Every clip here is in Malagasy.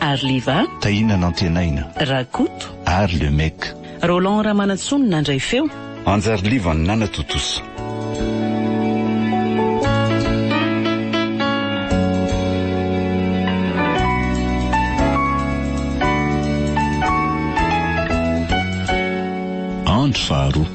Arliva. Tahina Nantenaina. Rakoto. Ary Le Mec. Roland Ramanantsoa no nandray feo. Anjarliva no nanatontosa. Andro faharoa.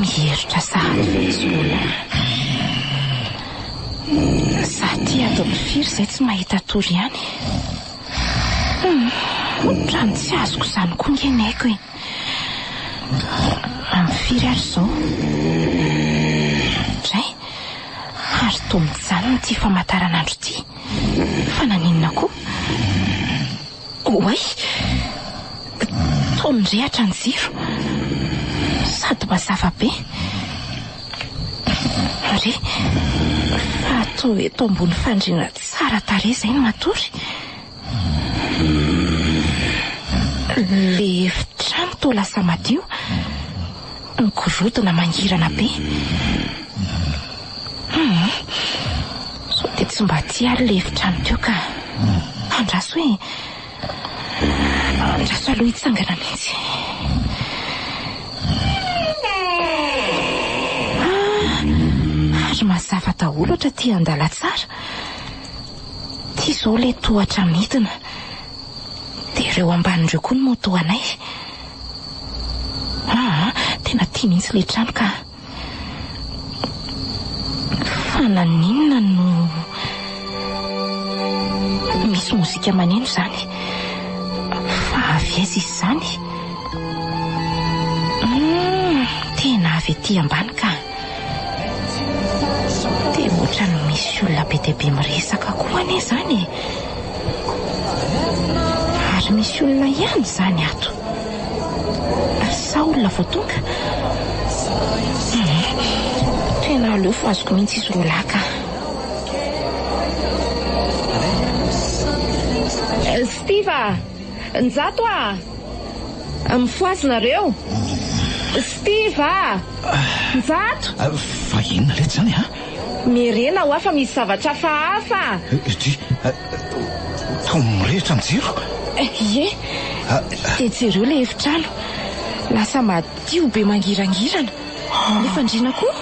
Mihiritra sahady fetsipona. Za ty ato amin'ny firy zay tsy mahita tory ihany e. Otrany tsy azoko izany koa nge ny aiko e. Amin'ny firy ary izao? Dray, ary toa mijanona ity famataranandro ity. Fa naninona koa? Oay! Toa mirehatra ny jiro. Sady mazava be. Re, fa toa eto ambony fandriana tsara tarehy izay no matory. Ilay efitrano toa lasa madio. Migorodona mangirana be. Humm. Sao dia tsy mba tia ary ilay efitrano teo ka. Andraso e. Andraso aloha hitsangana mihitsy. Ah, ary mazava daholo ohatra tia andalatsara. Ity izao ilay tohatra midina. Dia ireo ambany ireo koa no moto anay. Aa tena tia mihitsy le trano ka. Fa naninona no misy mozika maneno izany? Fa avy aiza izy izany? Hum tena avy ety ambany ka. Tena ohatran'ny misy olona be dia be miresaka koa anie izany e! Ary misy olona ihany izany ato. Sa olona vao tonga? Tena aleo fa azoko mihitsy izy roa lahy ka. Steve a! Njato a! Mifohaza nareo? Steve a! Njato! Fa inona letsy zany a? Miherena hoa fa misy zavatra hafahafa! Ity! Toa mirehitra ny jiro! Ie! Dia jereo ilay efitrano! Lasa madio be mangirangirana! Ilay fandriana koa!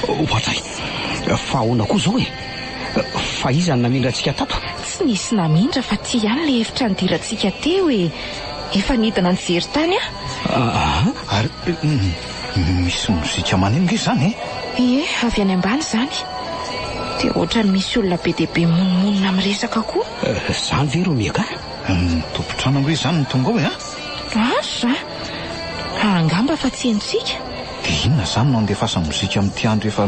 Oadray! Fa ahoana koa izao e? Fa iza no namindra antsika tato? Tsy nisy namindra fa ty ihany ilay efitra nidirantsika teo e! Efa nidina nijery tany aho. Aa ary misy mozika maneho nge zany e? Ie, avy any ambany zany. Dia ohatran'ny misy olona be dia be mimonomonona miresaka koa. Zany ve ro mieka? Ny tompon-trano ange zany no tonga ao e a! Ary za? Raha angamba fa tsy henontsika. Dia inona zany no andefasany mozika amin'ity andro efa.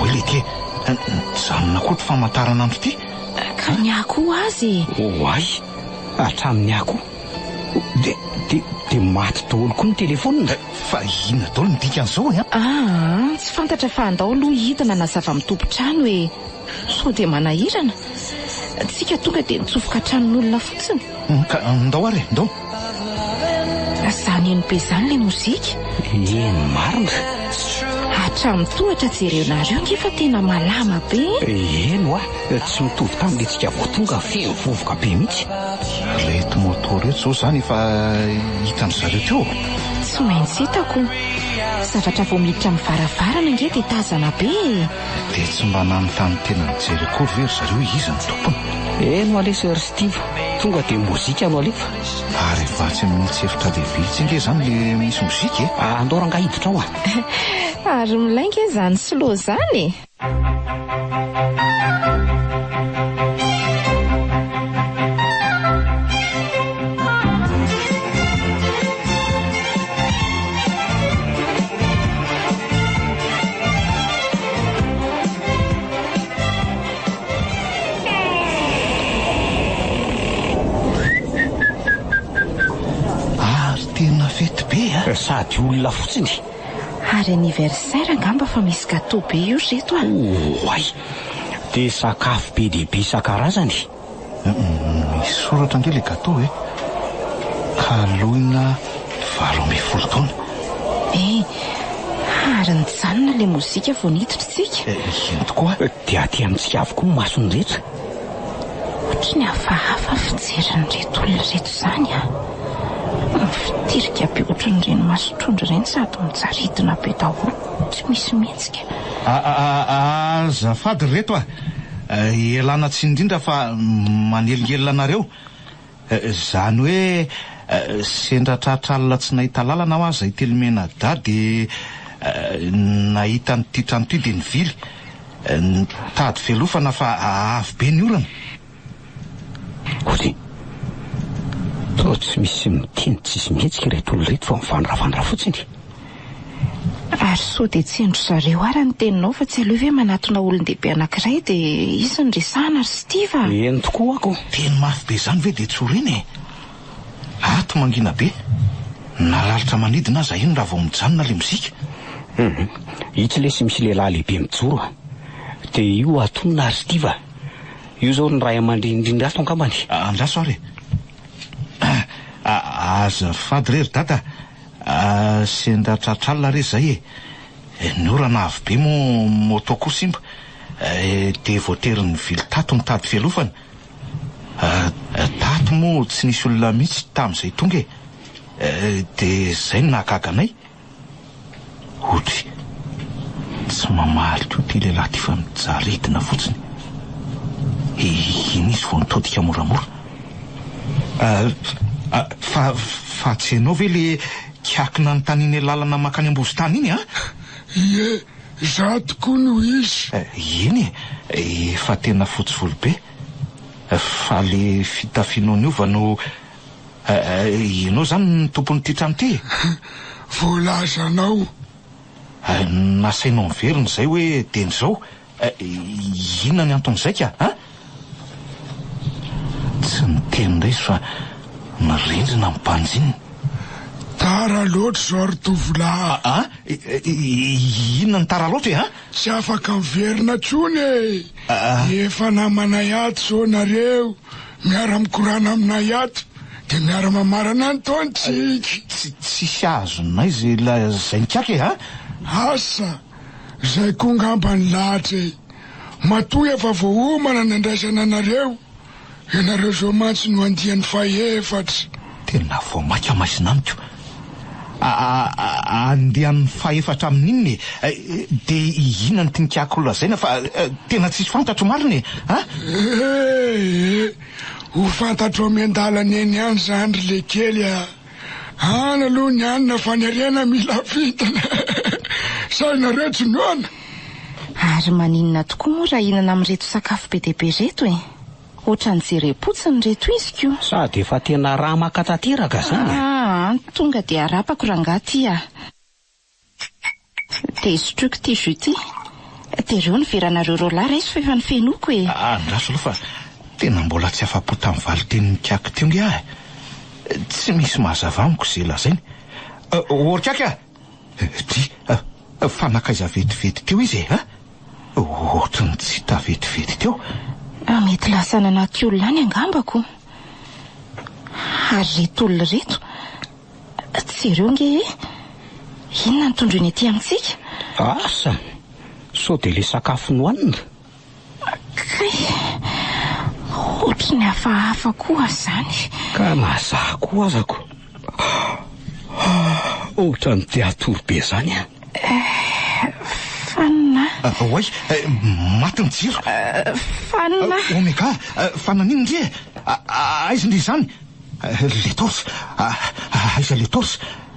Oy lety e! Nijanona koa ity famantaranandro ity. Hatramin'ny ahy koa aza e! Oay! Hatramin'ny ahy koa! Dia, dia, dia maty daholo koa ny telefonina! Fa inona daholo ny dikan'izao e? Aa! Tsy fantatra fa andao aloha hidina na zava-mitompon-trano e! Sao dia manahirana? Tsika tonga dia nitsofoka an-tranon'olona fotsiny? Ka ndao ary e! Ndao! Zany MB zany le mozika? Eny marina. Hatramin'ny tohatra jerenareo nge fa tena malama be e! Eny hoa, tsy mitovy tamin'ilay tsika vao tonga feno vovoka be mihitsy. Reto moto reto zao zany efa hitan-dry zareo teo? Tsy maintsy hitako. Zavatra vao miditra amin'ny varavarana nge dia tazana be e! Dia tsy mba nanontany tena nijery akory ve ry zareo hoe iza no tompony? Eny oa lesy ry Steve, tonga dia mozika no alefa. Ary vatsy amin'ny tsy efitra lehibe etsy ange izany ilay misy mozika e! Andao rangahy hiditra ao a! Ary milay ange izany slow izany e! sady olona fotsiny ary anniversaire angamba fa misy gâteau be io ry reto a! Oay! Dia sakafo be dia be isan-karazany e! Misy soratra ange le gateau e! Kaloina valo ambin'ny folo taona. Eh! Ary nijanona le mozika vao niditra isika. Eny tokoa. Dia aty amintsika avokoa ny mason'ny rehetra. Otrany hafahafa fijerin'ireto olona ireto izany a! Mifitirika be otran'ireny mason-trondro ireny sady mijaridina be daholo, tsy misy mihetsika. Azafady ry reto a! Ialana tsiny indrindra fa manelingelina anareo. Izany hoe sendra tratra alina tsy nahita lalana aho aza ity Lomenadahy dia nahita an'ity trano ity dia nivily. Nitady fialofana fa avo be ny orana. Ozy, sao tsy misy miteny tsisy mihetsika ireto olona ireto fa mivandravandra fotsiny? Ary sao dia tsy hain-dry zareo ary ny teninao fa tsy aleo ve manatona olon-dehibe anankiray dia hisy ny resahana ry Steve a! Eny tokoa ho'ako! Teny mafy be izany ve dia tsorina e! Ato mangina be, na lalitra manidina aza iny raha vao mijanona ilay mozika. Hum, itsy lesy misy lehilahy lehibe mijoro a! Dia io atonona ry Steve a! Io zao ny ray amandreny indrindra ato angambany e. Andraso ary e. Azafady re ry dada a, sendra tratr'alina re zay e. Ny orana avo be moa moto koa simba dia voatery nivily tato nitady fialofana. Tato moa tsy nisy olona mihitsy tamin'izay tonga e. Dia zay no nahagaga anay. Hody, tsy mamaly koa ity lehilahy ity fa mijaly aretina fotsiny. Iny izy vao nitodika moramora. Fa fa tsy ianao ve le kiaky nanontanianay lalana makany Ambozotany iny an? Ie, izaho tokoa no izy. Eny e, efa tena fotsy volo be. Fa le fitafianao niova no. Eh, ianao izany no tompon'ity trano ity e? Voalazanao. Eh, nasainao niverina izay hoe dieny izao. Eh, inona ny anton'izay ka, a? Tsy niteny indray izy fa mirindrina ny banjininy. Tara loatra izao ry tovolahy. A, a? Inona ny tara loatra e, a? Tsy afaka miverina intsony e. Efa namanay ato izao nareo Miara mikorana aminay ato de miara mamarana any ton tsika. Tsisy azonay ze lazainy kaka e ha. Asa! Zay koa ngamba ny lahatra e! Matoa efa voaomana ny andraisana anareo, ianareo zao mantsy no andiany fahefatra. Tena vao maika maizina amiko. A-a-a-a andeha amin'ny fahefatra amin'inona e? Dia inona no tinkako ho lazaina fa tena tsisy fantatro marina e? A? Ee, ho fantatrao miandalana eny ihany izany ry lekely a! Any aloha ny any na faniriana mila vintana e! Sa ianareo tsy noana? Ary maninona tokoa moa raha hihinana amin'ireto sakafo be dia be ireto e? Otrany jerem-potsiny re toiziko o. Sady efa tena ramaka tanteraka zany e. Aa tonga dia arapako rangah ty ah. Dia sotroiko ity jus ity. Dia reo ny veranareo roalahy raiso fa efa nifenoiko e. Aa andraso aloha fa tena mbola tsy afa-po tamin'ny valin-tenin'i Kiaky teo nge aho e. Tsy misy mahazava amiko ze lazainy. Ôry Kiaky ah! Dry, fa nankaiza vetivety teo izy e? Ohatry ny tsy hita vetivety teo. Mety lasa nanaty olona any angambako. Ary reto olona reto, jereo ange e! Inona no tondroiny aty amintsika? Asa! Sao dia ilay sakafo nohanina? Kay, ohatry ny hafahafa koa zany. Ka na za koa aza ko ohatry ny te hatory be zany an! Fanina a! Oay, maty ny jiro. Fanina a! Omega, fa naninona ndry e? Aiza ndry izany le torche? Aiza le torche?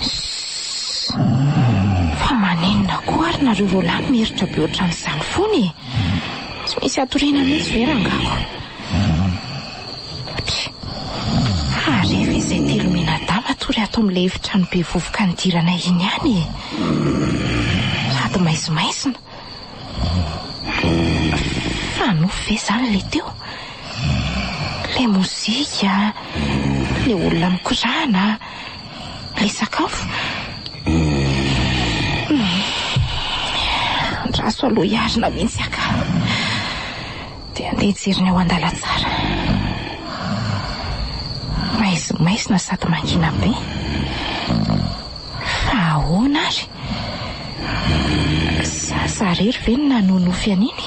Sssss! Fa maninona koa ary nareo roalahy miheritra be ohatran'izany foana e? Tsy misy hatoriana mihitsy ve rangako? Pff! Fa rehefa izay telo mianadahy matory ato amin'ilay efitrano be vovoka nidiranay iny ihany e! Sady maizimaizina. Fa nofy ve izany ilay teo? Ilay mozika, ilay olona mikorana. Ilay sakafo? Humm. Andraso aloha hiarina mihitsy aka. Dia andeha hijery ny ao an-dalantsara. Maizimaizina sady mangina be. Fa ahoana ary? Za za irery ve no nanonofy an'iny?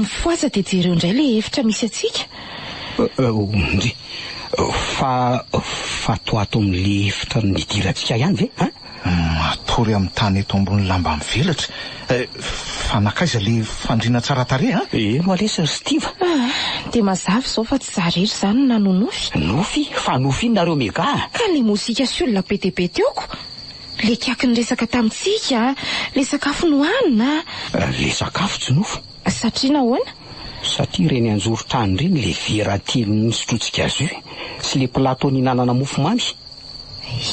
Mifoha aza dia jereo indray ilay efitra misy antsika. Ndry. Fa fatoato amin'ilay efitra nidirantsika ihany ve an? Matory amin'ny tany eto ambony lamba mivelatra. Fa nankaiza ilay fandriana tsara tarehy an? Eno lesy ry Stiva. Dia mazava izao fa tsy za rery izany no nanonofy. Nofy? Fa nofy inona nareo mega an? Ka ilay mozika sy olona be dia be teo ko! Le kiaky niresaka tamintsika le sakafo nohanina a! Le sakafo tsy nofo. Satria nahoana? Satria ireny anjoron-trano ireny le vera telo nisotrotsika jus sy le plateau nihinanana mofo mamy.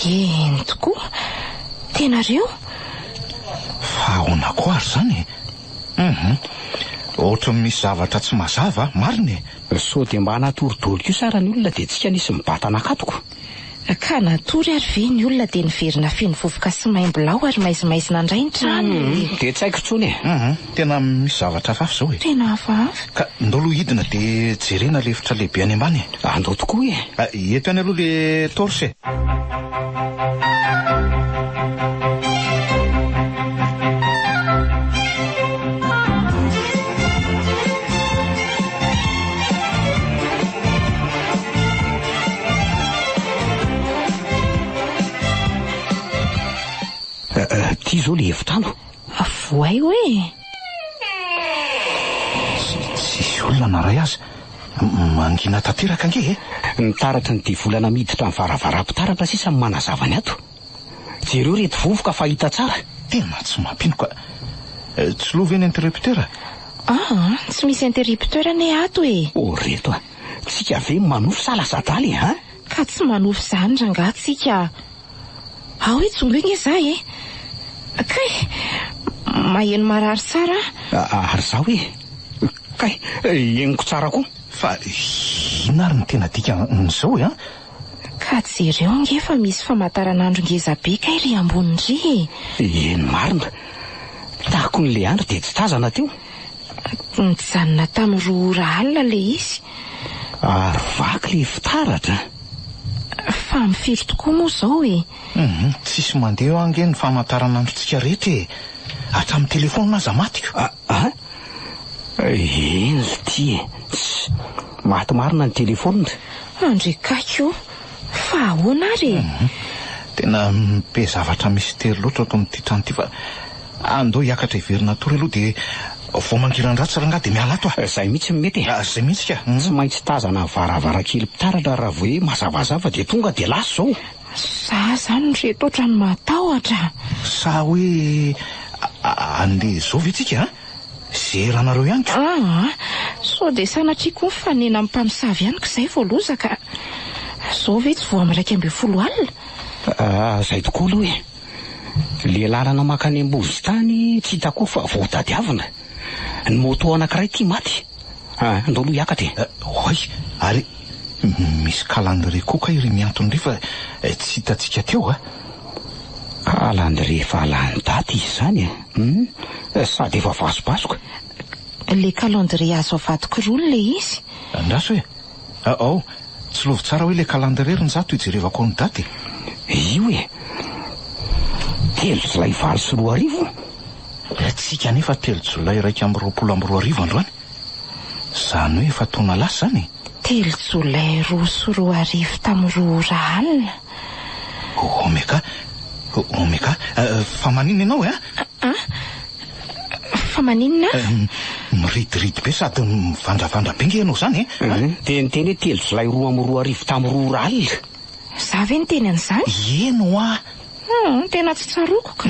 Eny tokoa. Tena ry io. Fa ahoana koa ary izany e? Hum hum. Ohatran'ny misy zavatra tsy mazava a! Marina e! Sao dia mba hanatory doly kosa ary ny olona dia tsika nisy mibata nakatoko. Ka natory ary ve ny olona dia niverina feno vovoka sy maimbo lao ary maizimaizina indray ny trano e! Dia tsy haiko intsony e! Hum hum, tena misy zavatra hafahafa izao e! Tena hafahafa! Ka ndao aloha hidina dia jerena ilay efitra lehibe any ambany e! Ah, ndao tokoa e! Ah, eto ihany aloha ilay torche e! Ity izao ilay efitrano. Avohay hoe e! Tsisy olona na iray aza. Mangina tanteraka ange e! Ny taratry ny devolana miditra ny varavaram-pitaratra sisa no manazava ny ato. Jereo ireto vovoka fa hita tsara. Tena tsy mampino ka. Tsy lo ve ny interrupteur? Aa, tsy misy interrupteur anie ato e! Ô ry reto a! tsika ve manofy sa lasa adaly e an! Ka tsy manofy zany rangah tsika a! Ao hoe jongoy nge za e! Kay! Maheno marary tsara a! Ary za hoe kay! Henoko tsara koa! Fa inona ary ny tena dikan'izao e an! Ka jereo nge fa misy famataranandro ngeza be kay ry ambony ry e! Eny marina! Takon'i Leandry dia tsy tazana teo! Nijanona tamin'ny roa ora alina ilay izy. Ary vaky ilay fitaratra a! Fa amin'ny firy tokoa moa izao e? Humm, tsisy mandeha eo ange ny famantaranandrontsika rehetra e! Hatramin'ny telefaonina aza matiko. A! A! Eny ity e! Ss! Maty marina ny telefaonina. Andre Kaiky o! Fa ahoana ary e? Humm, tena be zavatra mystère loatra ato amin'ity trano ity fa. Ah, ndao hiakatra hiverina hatory aloha dia vao mangiran-dratsy rangahy dia miala ato ah. Zay mihitsy no mety e. Ah, zay mihitsy ka. Tsy maintsy tazana varavarankely mpitaratra raha vao hoe mazavazava dia tonga dia lasa izao. Sa zany ry reto otrany matahotra ah. Sa hoe andeha izao ve tsika ah? Zera anareo ihany ka. Ah ah, sao dia sanatria koa mifanena amin'ny mpamosavy ihany ka zay vao lozaka ah. Zao ve tsy vao amin'ny iraika ambin'ny folo alina? Ah, zay tokoa aloha e. Ilay lalana mankany Ambovy tany tsy hita koa fa voatadiavina. Ny moto anankiray ity maty. Ah, ndao aloha hiakatra e! Oay, ary misy kalandrie koa kay ry Miantona ry fa tsy hitantsika teo a! Kalandrie efa lany daty izy izany e! Hum, sady efa vasobasoka. Ilay kalandrie azo avadik'roa ilay izy. Andraso e! Ah oh! Tsilovy tsara hoe le calendrier ry Njato ijerevako ao ny daty e! Io e! Telo jolay valo sy roa arivo? Ny antsika anefa telo jolay iraika amby roapolo amby roa arivo androany! Zany hoe efa taona lasa zany e! Telo jolay roa sy roa arivo tamin'ny roa ora alina? Omega? Omega? Fa maninona ianao e? A? Fa maninona? Miridiridy be sady mivandravandra be nge ianao izany e? Mhm. Dia niteny hoe telo jolay roa amby roa arivo tamin'ny roa ora alina. Izaho ve niteny an'izany? Ieno hoa! Hum, tena tsy tsaroako ka.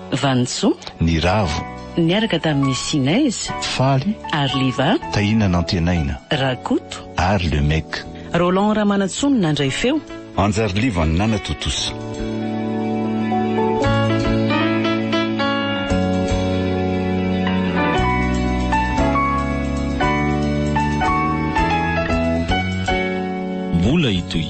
Vanintso. Ny Ravo. Niaraka tamin'ny Sinez. Faly. Ary Liva. Tahina Nantenaina. Rakoto. Ary Le Mec. Roland Ramanantsoa no nandray feo. Anjariliva no nanatontosa. Mbola hitohy.